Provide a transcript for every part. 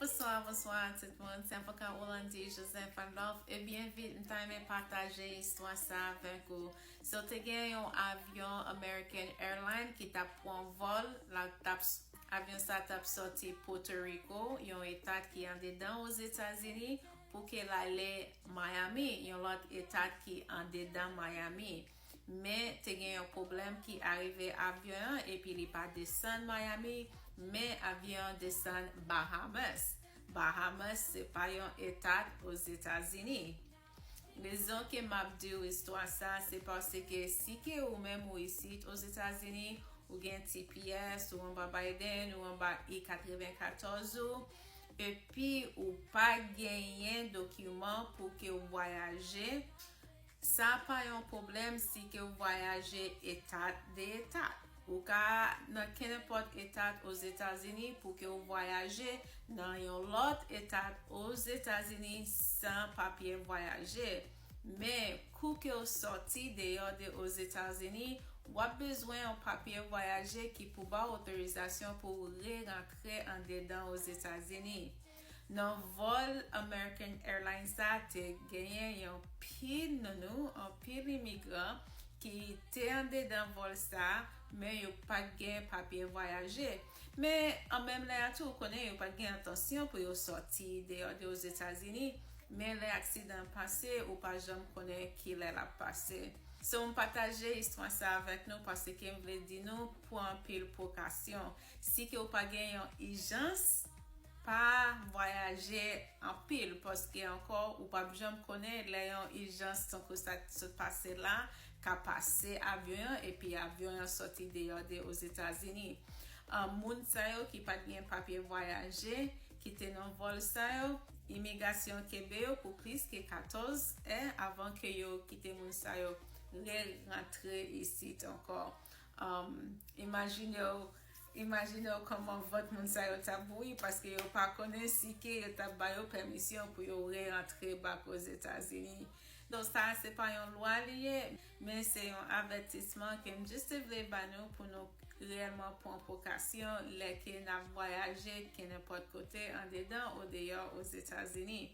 Bnswa bnswa tout moun se avoka Rolandi Joseph Adolphe e byen vit m ta renmen pataje istwa sa avèk ou si w te gen yon avyon American Airline ki tap pran vòl la tap avyon sa tap sòti Potoriko yon etat ki andedan Ozetazini pou ke l ale Miami yon lòt etat ki andedan Miami. Men te gen yon pwoblèm ki arive avyon an epi li pa desann Miami men avyon an desann Bahamas. Bahamas se pa yon etat Ozetazini. Rezon ke m ap di w istwa sa se paske si ke ou menm ou isit Ozetazini, ou gen tps, ou anba Biden, ou anba I-94 ou, epi ou pa genyen dokiman pou ke w vwayaje, Sa pa yon pwoblèm si ke w vwayaje etat de etat. Ou ka nan kenenpòt etat Ozetazini pou ke w vwayaje nan yon lòt etat Ozetazini san papye vwayaje. Men, kou ke w sòti deyò de Ozetazini, w ap bezwen yon papye vwayaje ki pou ba w otorizasyon pou w re-rantre andedan Ozetazini. Nan vòl American Airlines sa te genyen yon pil nounou, anpil imigran ki te andedan vòl sa, men yo pa t gen papye vwayaje. Men an menm lè a tou ou konnen yo pa t gen entansyon pou yo sòti deyò de Ozetazini, men lè aksidan an pase ou pa janm konnen ki lè l ap pase. So m pataje istwa sa avèk nou paske m vle di nou pran anpil pwokasyon. Si ke ou pa gen yon ijans, pa vwayaje anpil paske ankò ou pap janm konnen lè yon ijans tankou sa ki sot pase la ka pase avyon an epi avyon an sòti deyò de Ozetazini. Moun sa yo ki pat gen papye vwayaje ki te nan vòl sa yo, imigasyon kenbe yo pou plis ke 14 è avan ke yo kite moun sa yo re rantre isit ankò. Imajinew Imajinew koman vant moun sa yo tap bouyi paske yo pa konnen si ke yo tap ba yo pèmisyon pou yo re antre back ozetazini. Donk sa a se pa yon lwa li ye, men se yon avètisman ke m jis te vle ba nou pou nou reyèlman pran prekasyon lè ke nap vwayaje kenenpòt kote andedan o deyò ozetazini.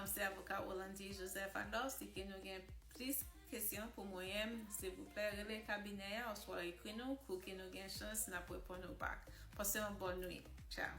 Se avoka Rolandi Joseph Adolphe si ke nou gen plis Kesyon pou mwenyenm silvouplè rele kabinè a oswa ekri nou pouki nou gen chans nap reponn ou bak. Pase yon bòn nwit. Tchao.